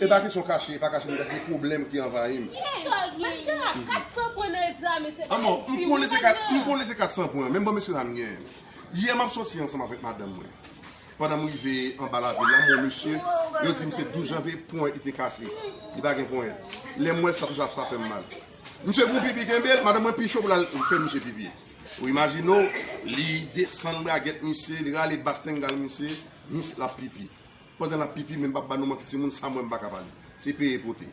E pa kesyon kache, e pa kache bagay, se pwoblèm ki anvayi m. Hey! Machè a, 400 pwen nan egzamen se pa yon ti wi nan nan! M konnen se 400 pwen, men bon mesye dam m genyen. Yè m ap soti ansanm avèk madanm mwen. Pandan m rive anba lavil la, m wè yon mesye, yo di m se 12 janvye, ponyèt li te kase. Li pa gen ponyèt. Lè m wè l sa, tout sa, sa fè m mal. Misye fè yon pipi kenbe l, madanm mwen pi cho pou l al fè misye pipi. Ou imajine w, li desann bragèt misye, li rale bas tengal misye, misye l ap pipi. Pandan lap pipi men pap ba nou manti timoun sa mwen mpaka pale se peye pote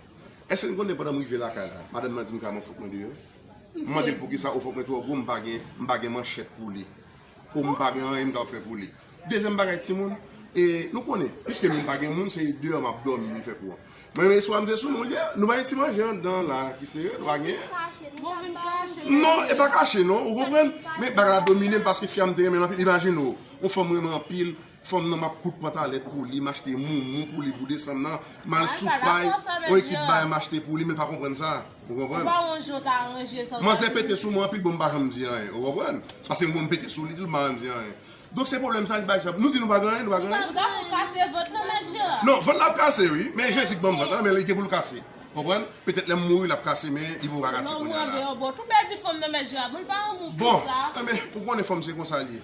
eske n konnen pandan m rive lakay la madanm nan dim kaleman fòk mwen deyò m mande l poukisa o fòk mwen twò gwo m pa gen m pa gen manchèt pou li o m pa gen anyen m kab fè pou li dezyèm bagay timoun e nou konnen piske m pa gen moun se deyò map dòmi m fè kou an men yon swa m te sou nou yè nou bay yon ti manje andan la ki serye nou pa gen non e pa kache non ou konprann men bagay la domine m paske fi a m te renmen l anpil imajine w yon fanm w renmen anpil Fanm nan map koud pantalèt pou li, machte moumou pou li pou desanm nan, mal sou pay, on ekip bay machte pou li, men pa konprann sa, ou konprann? Manzè pete sou mwen anpil bon m pa janm di anyen, ou konprann? Paske m konn m pete sou li tou m pa janm di anyen. Donk se pwoblèm sa li bay sa, nou di nou pa gen anyen, nou pa gen anyen? Non, vant la ap kase wi, men Jezi k banm vant la, men li gen pou l kase, konprann? Petèt lè m mouri l ap kase men li poko ka kase kounya la. Bon, anben ou konnen fanm se konsa l ye,